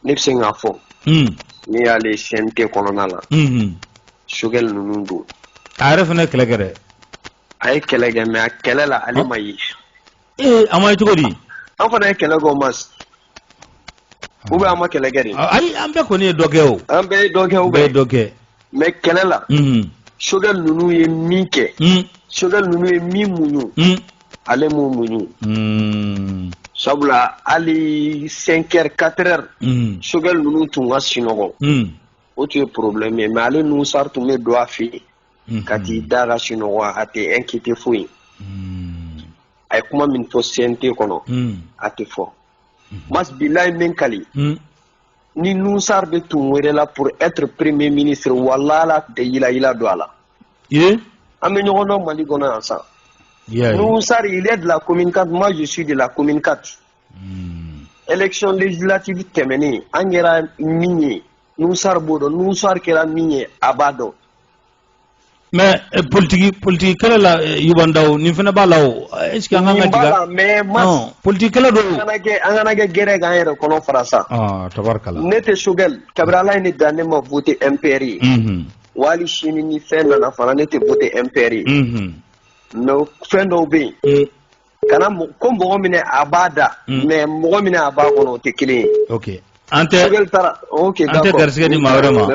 ne bɛ se k'a fɔ hmm. n'i y'a lajɛ cnt kɔnɔna la hmm, hmm. sogɛl ninnu don a yɛrɛ fana kɛlɛ kɛ dɛ a ye kɛlɛ kɛ mais a kɛlɛ la ale ma ye ee a ma ye cogo di an fana ye kɛlɛ kɛ o mas ou bien an ma kɛlɛ kɛ de ayi an bɛɛ kɔni ye dɔ kɛ o an bɛɛ ye dɔ kɛ o bɛɛ ye dɔ kɛ mais kɛlɛ la sogɛl ninnu ye min kɛ sogɛl ninnu ye min muɲu ale m'o muɲu sabula hali cinq heures quatre heures sogɛl ninnu tun ka sinɔgɔ o tun ye problème ye mais ale nusari tun bɛ don a fɛ yen ka t'i da ka sunɔgɔ a tɛ e kki tɛ foyi ye a ye kuma min fɔ sente kɔnɔ a tɛ fɔ mala ye min kali ni ninnusa bɛ tun wɛrɛ la pur etr perereme mini siri walala tɛ yilayila don a la an bɛ ɲɔgɔndɔn mali kɔnɔ yan san ninnusa yɛrɛ de la ko min ka ma dususu de la ko min kati econ lejilatibi tɛmɛnen an kɛra min ye nusari b'o dɔn nusari kɛra min ye a b'a dɔn mais eh, politique politique kɛlɛ la eh, juman daw nin fana b'a la o eh, est ce que an kan ka tiga mais mas politique kɛlɛ don an kana kɛ an kana kɛ gɛrɛ k'an yɛrɛ kɔnɔ fara sa ah tabarikala ne tɛ sogɛl kabiri ala ye ne dan ne ma vote mpr ye mhm. wali sini ni fɛn nana fana ne tɛ vote mpr ye mhm. mais fɛn dɔw bɛ yen kana ko mɔgɔ minɛ a b'a da mm. mais mɔgɔ minɛ a b'a kɔnɔ o tɛ kelen ye ok an tɛ okay, an tɛ garisɛgɛ di maa wɛrɛ ma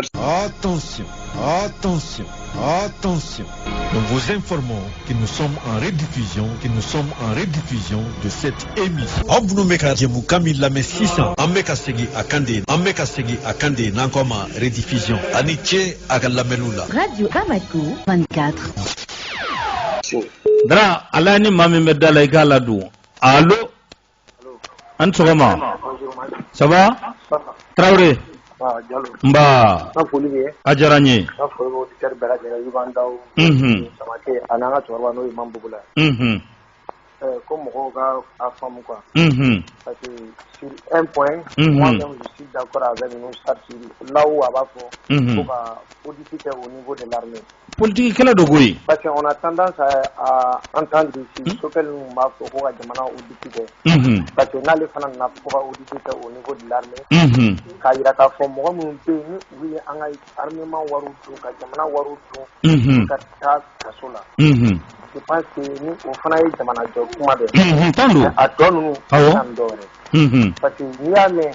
attention attention attention nous vous informons que nous sommes en rediffusion que nous sommes en rediffusion de cette émission aw minnu bɛ ka jɛmukan min lamɛn sisan an bɛ ka segin a kan de an bɛ ka segin a kan de n'an k'a ma rediffusion a ni ce a ka lamɛnniw la radio bamako 24 Dara ala ni maa min bɛ da la i k'a ladon alo an sɔgɔma ça va tarawele nba a diyara n ye ko mɔgɔw ka a faamu quoi unhun parce que sur un point unhun moi même je suis d'accord avec Nouhoum Sarr là où a b'a fɔ unhun ko ka audit kɛ au niveau de l'armée Politigi kɛlɛ don koyi parce que on a tendance à entendre ici Sokɛli ninnu b'a fɔ ko ka jamana audit kɛ parce que n'ale fana nana fɔ ko ka audit kɛ au niveau de l'armée k'a jira k'a fɔ mɔgɔ minnu bɛ yen ni u ye an ka armement wari dun ka jamana wari dun ka taa kaso la je pense que ni o fana ye jamanajɔ kuma dɛ a tɔ ninnu kan dɔ wɛrɛ parce que n'i y'a mɛn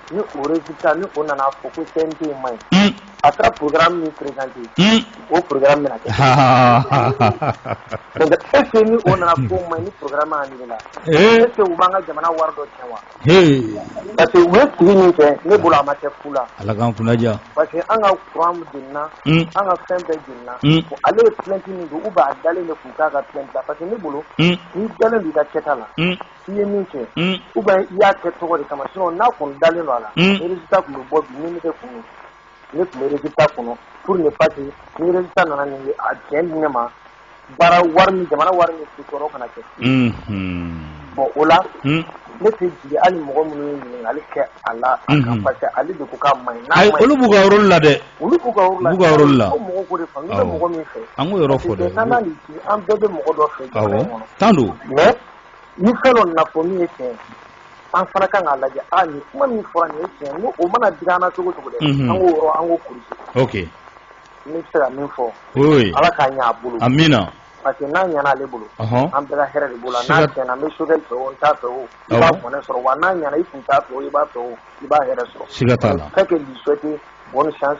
ni o résultat ni o nana fɔ ko CNT ma ɲi. Un! A taara programme min présenté. Un! O programme bɛna kɛ. Donc est ce que ni o nana k'o ma ɲi ni programme annulé la. Ee! Est ce que u b'an ka jamana wari dɔ tiɲɛ wa? Hee! Parce que u ye sigi min kɛ, ne bolo a ma kɛ fu la. Ala k'an kunna diya. Parce que an ka courant jenina. Un! An ka fɛn bɛɛ jenina. Un! Bon ale ye plainte min don ou bien a dalen de tun t'a ka plainte la parce que ne bolo. Un! N'i dalen don i ka kɛta la. Un! I ye min kɛ u bɛ i y'a kɛ tɔgɔ de kama sɔn n'a kun dalen don a la tun bɛ bɔ kun ne tunta kɔnɔ p ni pa nana nin ye a cɛ ne ma baara wari jamana wari min si sɔrɔ kana kɛ bon o la ne tɛ jigin ali mɔgɔ minnu ɲini ale kɛ a la ale de ka ma olu b'u ka la dɛ olu b'u ka la mɔgɔ de fɛ an bɛɛ bɛ mɔgɔ dɔ fɛ tan don ni fɛn dɔ nana fɔ min ye tiɲɛ an fana kan k'a lajɛ ani kuma min fɔra nin ye tiɲɛ n'o mana digi an na cogo cogo dɛ an k'o yɔrɔ an k'o kɔrɔsi ok n bɛ se ka min fɔ ala k'a ɲɛ a bolo amina parce que n'a ɲɛna ale bolo an bɛɛ ka hɛrɛ de b'o la n'a tiɲɛna n'i bɛ Sokɛli fɛ o n'i t'a fɛ o i b'a mɔnɛ sɔrɔ wa n'a ɲɛna i tun t'a fɛ o i b'a fɛ o i b'a hɛrɛ sɔrɔ siga t'a la fait que lui souhaiter bonne chance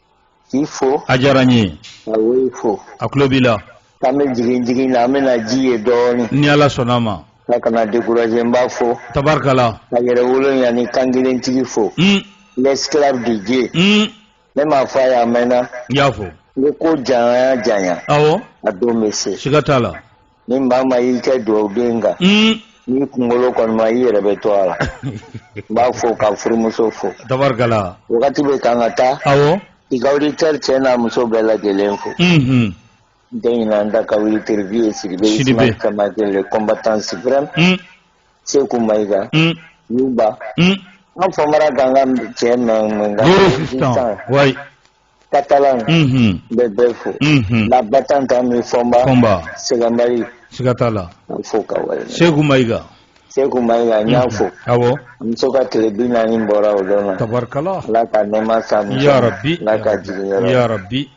k'i fo a diyara n ye ka woyi fo a tulo b'i la k'an bɛ jigin jigin na an bɛna ji ye dɔɔnin ni ala sɔnna a ma a kana découragé n b'a fo tabarikala ka yɛrɛ wolo yanni kankelentigi fo mm. l'esclave de Dieu mm. ne m'a fɔ a ye a mɛnna n y'a fo n ko ko janya janya awɔ a don bɛ se siga t'a la Ni maa ma y'i kɛ dugawuden kan ni kunkolo kɔnɔma i yɛrɛ bɛ to a la n b'a fo k'a furumuso fo wagati bɛ kan ka taa awɔ i ka auditeur cɛ n'a muso bɛɛ lajɛlen fo n tɛ ɲinɛ an da ka wuli teribi ye Sidibe combattant suprême Seku Mayiga ba an Famara gangan cɛ mɛ Katalan n bɛ bɛɛ fo la battante ani Fɔnba sɛbɛnbari siga t'a la fo ka Seku Mayiga Seku Mayiga n y'a fo a muso ka tile bi naani bɔra o don tabarikala ala ka nɛɛma s'a ya rabi ala ka jigin ya rabi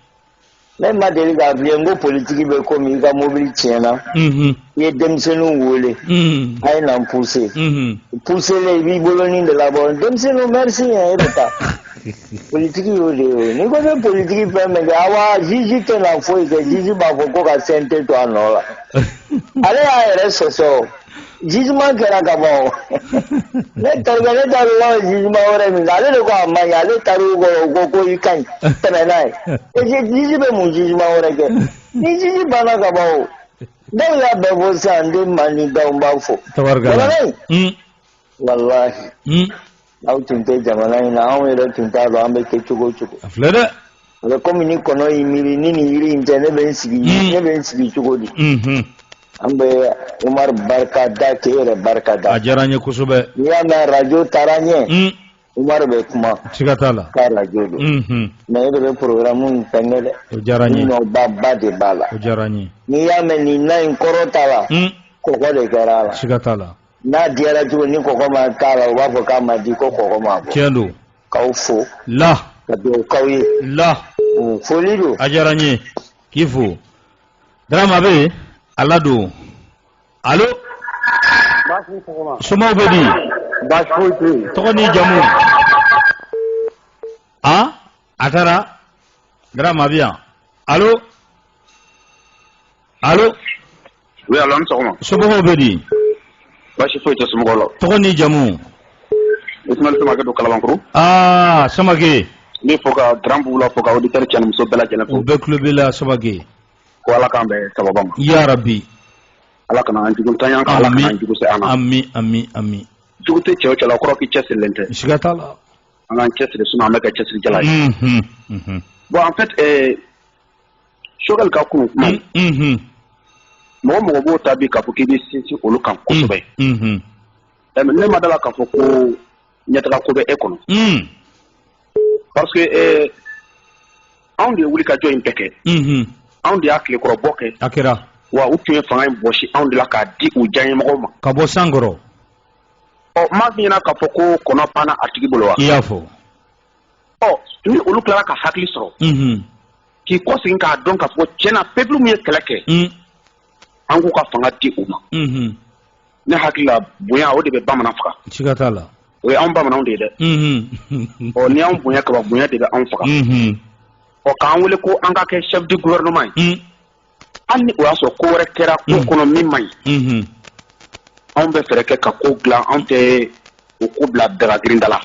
ne ma deli k'a f'i ye n ko politiki bɛ komi i ka mobili tiɲɛna i ye denmisɛnninw wele mhm. a ye na n puse mhm. pusele i b'i bolonin de labɔ denmisɛnninw merci yɛ e bɛ taa politiki y'o de ye n'i ko bɛ politiki fɛn min kɛ awa juge tɛna foyi kɛ juge b'a fɔ ko ka CNT to a nɔ la ale y'a yɛrɛ sɔsɔ jugement kɛra ka ban o ne tarikɛ ne t'a dɔn n'a ye jugement wɛrɛ min kɛ ale de ko a man ɲi ale taar'u kɔrɔ u ko ko i ka ɲi tɛmɛ n'a ye juge bɛ mun jugement wɛrɛ kɛ ni juge banna ka ban o dɔw y'a bɛɛ fɔ sisan n den Madi Daw n b'a fo tabarikala jamana in Mm, walahi mm. aw tun tɛ jamana in na anw yɛrɛ tun t'a dɔn an bɛ kɛ cogo o cogo a filɛ dɛ a bɛ komi ni kɔnɔ y'i miiri ni nin yiri in tɛ ne bɛ n sigi Mm. ne bɛ n sigi cogo di Mhm. an bɛ Umar barika da k'e yɛrɛ barika da a diyara n ye kosɛbɛ n'i y'a mɛn radio taara ɲɛ Mm, Umaru bɛ kuma siga t'a la k'a radio don unhun mais e de bɛ programme in fɛnkɛ dɛ o diyara n ye nɔba ba de b'a la o diyara n ye n'i y'a mɛn nin na in kɔrɔtala un kɔgɔ de kɛra a la siga t'a la na diyara cogo ni kɔgɔ ma k'a la u b'a fɔ k'a man di ko kɔgɔ ma bɔ tiɲɛ don k'aw fo la ka dugawu k'aw ye la Mm, foli don a diyara n ye k'i fo Darama bɛ yen a ladon Alo somaw bɛ di baasi foyi tɛ tɔgɔ ni jamu a a taara Darama bɛ yan alo alo oui alo an sɔgɔma somɔgɔw bɛ di baasi foyi tɛ somɔgɔw la tɔgɔ ni jamu Ismail Samake don Kalabankuru aa Samake n b'i fo ka grand Bula fo ka auditeur cɛ ni muso bɛɛ lajɛlen fo u bɛɛ tulo b'i la Samake ko ala k'an bɛɛ sababu ma ya rabi ala kana an jugu ta ɲa ka ala kana jugu se an ma ami ami ami jugu tɛ cɛw cɛla kɔrɔ k'i cɛsirilen tɛ siga t'a la an k'an cɛsiri sinon an bɛ kɛ cɛsirijala ye mhm, mhm. bon en fait euh, Choguel ka kunun kuma mhm. mɔgɔ o mɔgɔ b'o ta bi k'a fɔ k'i bɛ sinsin olu kan kosɛbɛ ne ma d'a la k'a fɔ ko ɲɛtaga ko bɛ e kɔnɔ parce que anw de ye wuli ka jɔ in bɛɛ kɛ anw de y'a tilekɔrɔbɔ kɛ a kɛra wa u tun ye fanga in bɔsi anw de la k'a di u diyanyemɔgɔw ma ka bɔ san kɔrɔ ɔ maa min ɲɛna k'a fɔ ko kɔnɔ panna a tigi bolo wa i y'a fɔ ɔ ni olu tilara ka hakili sɔrɔ k'i kɔsegin k'a dɔn k'a fɔ tiɲɛ na peuple min ye kɛlɛ kɛ an k'u ka fanga di u ma ne hakili la bonya o de bɛ bamanan faga siga t'a la o ye anw bamananw de ye dɛ ɔ ni y'anw bonya kaban bonya de bɛ anw faga ɔ k'an wele ko an ka kɛ chef du gouvernement ye hali ni o y'a sɔrɔ ko wɛrɛ kɛra ko kɔnɔ min man ɲi anw bɛ fɛɛrɛ kɛ ka ko dilan anw tɛ o ko bila dagagirinda la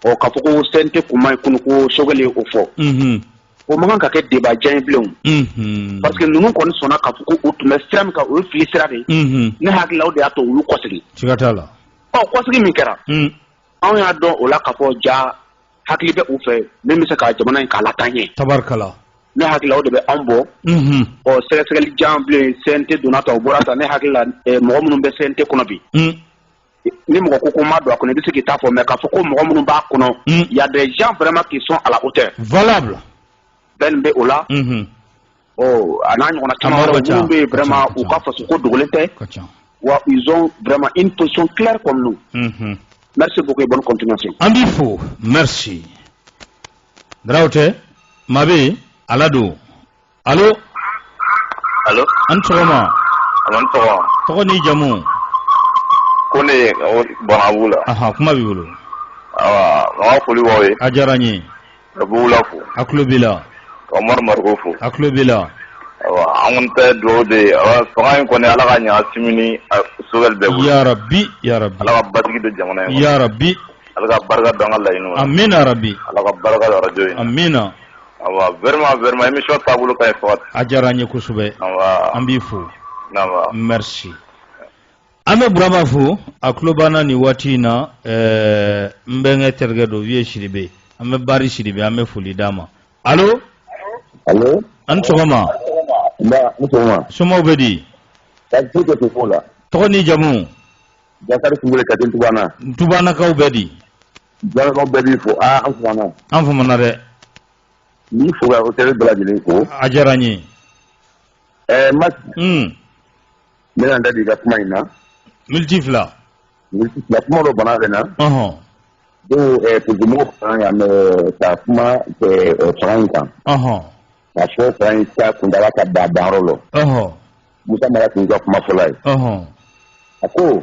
ɔ k'a fɔ ko CNT kun ma ye kunun ko Choguel y'o fɔ o man kan ka kɛ débat jan ye bilen parce que ninnu kɔni sɔnna k'a fɔ ko u tun bɛ sira min kan o ye fili sira de ye ne hakili la o de y'a to u y'u kɔsegin siga t'a la ɔ kɔsegin min kɛra anw y'a dɔn o la k'a fɔ ja hakili bɛ u fɛ min bɛ se ka jamana in k'a lataa ɲɛ tabarikala ne hakili la o de bɛ anw bɔ ɔ sɛgɛsɛgɛli jan bilen CNT donna tan u bɔra tan ne hakilila mɔgɔ minnu bɛ CNT kɔnɔ bi ni mɔgɔ ko ko ma don a kɔnɔ i bɛ se k'i ta fɔ mais k'a fɔ ko mɔgɔ minnu b'a kɔnɔ mm. y a des gens vraiment qui sont à la hauteur valable bɛn bɛ o la mm-hmm. oh, a n'a ɲɔgɔnna caman wɛrɛ minnu bɛ yen vraiment u ka faso ko dogolen tɛ wa ils ont vraiment une position claire comme nous mm-hmm. merci beaucoup et bonne continuation an b'i fo merci Daraw tɛ maa bɛ yen ala don alo alo a ni sɔgɔma a ni sɔgɔma tɔgɔ n'i jamu ko ne ye banabu la ahan kuma b'i bolo awa n ka foli b'aw ye a diyara n ye ka bugula fo a tulo b'i la ka umaru mariko fo a tulo b'i la awa an kɔni ta ye dugawu de ye awa fanga in kɔni ala k'a ɲa Assimi ni Choguel bɛɛ bolo yarabi yarabi ala ka basigi don jamana in kɔnɔ yarabi ala ka barika don an ka laɲiniw na amina yarabi ala ka barika don arajo in na amina a diyara an ye kosɛbɛ an b'i fo merci an bɛ burama fo a tulo b'an na nin waati in na ɛɛ n bɛnkɛ terikɛ don Vieux sidibe an bɛ bari sidibe an bɛ foli d'a ma alo alo an ni sɔgɔma nba ni sɔgɔma somaw bɛ di tɔgɔ ni jamu jakari kulubali ka di tubana tubanakaw bɛ di Jaraw bɛɛ b'i fo aa an famana an famana dɛ n b'i fo ka auditeurs bɛɛ lajɛlen fo a diyara n ye ɛɛ ma n bɛna n da don i ka kuma in na miniti fila kuma dɔ bana bɛ na donc politikimɔgɔ fana yan ka kuma fanga in kan k'a fɔ fanga in ka kuntaala ka da danyɔrɔ la musa mara tun ka kuma fɔlɔ ye a ko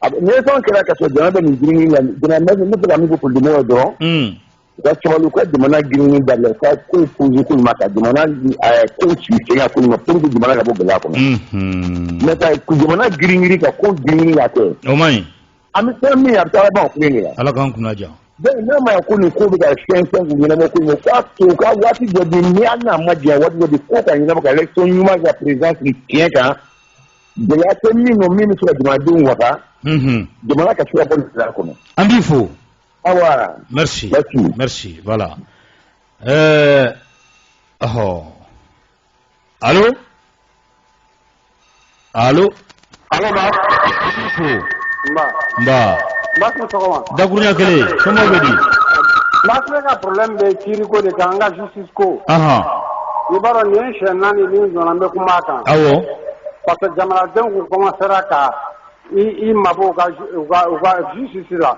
Nisɔn kɛra ka jɔn bɛ nin jiri la ne bɛ min fɔ dugu dɔrɔn ka cɛkɔrɔba ka jamana g da la ka ko ka jamana ka bɔ gɛlɛya kɔnɔ ne ka jamana girin ka ko grin la kɛ an bɛ fɛn min a taa ala ka kun ja n'a ma ko nin ko bɛ ka fɛn fɛn ɲɛna kun k'a to ka waati jɔ n'a ma diya waati ko ka ɲɛna ka ɲuman ka perez tiɲɛ kan gɛlɛya tɛ min nɔ min bɛ se ka jamanadenw wasa mhm. jamana ka se ka bɔ gɛlɛya kɔnɔ an b'i fo awa merci merci voilà ɛɛ eh, ɔhɔ alo alo alo an b'i fo nba nba nba i ni sɔgɔma dakurunya kelen somɔgɔw bɛ di nba ne ka problème bɛ kiiriko de kan an ka justice ko i b'a dɔn nin siɲɛ naani min donna n bɛ kuma a kan parce que jamanadenw tun kɔmansera ka i mabɔ u ka justice la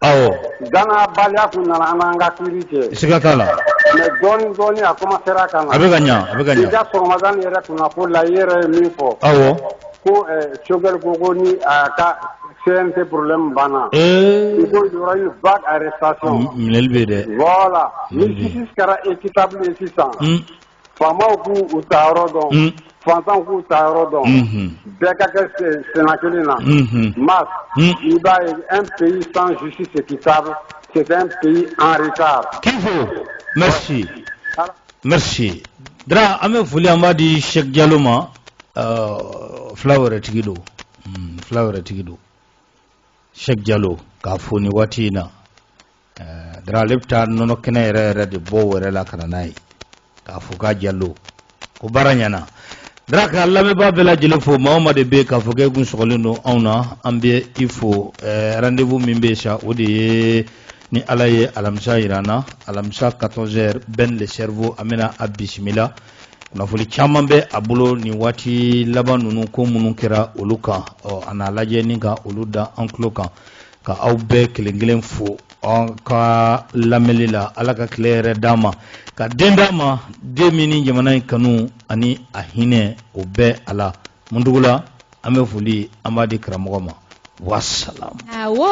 dannabaliya tun nana an n'an ka kiiri cɛ siga t'a la mais dɔɔnin dɔɔnin a kɔmansera ka a bɛ ka ɲɛ a bɛ ka ɲɛ i ka sɔgɔmada yɛrɛ kunnafoni la i yɛrɛ ye min fɔ ko sokɛkari ko ko ni ka fɛn tɛ porolen banna i ko yɔrɔ in ba are sa minɛli bɛ dɛ wala ni kɛra e kita bilen sisan faama k'u u ta yɔrɔ dɔn fantan k'u ta yɔrɔ dɔn bɛɛ ka kɛ sen kelen na ma i b'a ye an pe san susi se kita sɛ pe anreta kifo mɛ merci dra an bɛ foli an b'a di sɛk jalo ma uh, fila wɛrɛ tigi don mm, fila wɛrɛ tigi don sɛk jalo k'a fo ni waati in na uh, dra ale bɛ taa nɔnɔ kɛnɛ yɛrɛ yɛrɛ de bɔ wɛrɛ la ka na n'a ye k'a fo k'a jalo ko baara ɲɛna dra ka lamɛnbaa bɛɛ lajɛlen fo maa o maa de bɛ yen k'a fɔ k'e kun sɔgɔlen don anw na an bɛ i fo eh, rendez-vous min bɛ yen sa o de ye ni ala ye alamisa jira an na alamisa 14 heures ben le cerveau an bɛna a bisimila kunnafoni caman bɛ a bolo nin waati laban ninnu ko minnu kɛra olu kan ɔ a n'a lajɛ ni ka olu da an tulo kan ka aw bɛɛ kelen kelen fo an ka lamɛnli la ala ka tile hɛrɛ d'an ma ka den d'an ma den min ni jamana in kanu ani a hinɛ o bɛ a la mundugu la an bɛ foli an b'a di karamɔgɔ ma wasalam awɔ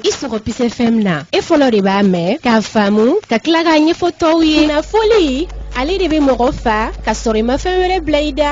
i sɔgɔ peace FM na e fɔlɔ de b'a mɛn k'a faamu ka tila k'a ɲɛfɔ tɔw ye kunnafoli ale de bɛ mɔgɔ fa ka sɔrɔ i ma fɛn wɛrɛ bila i da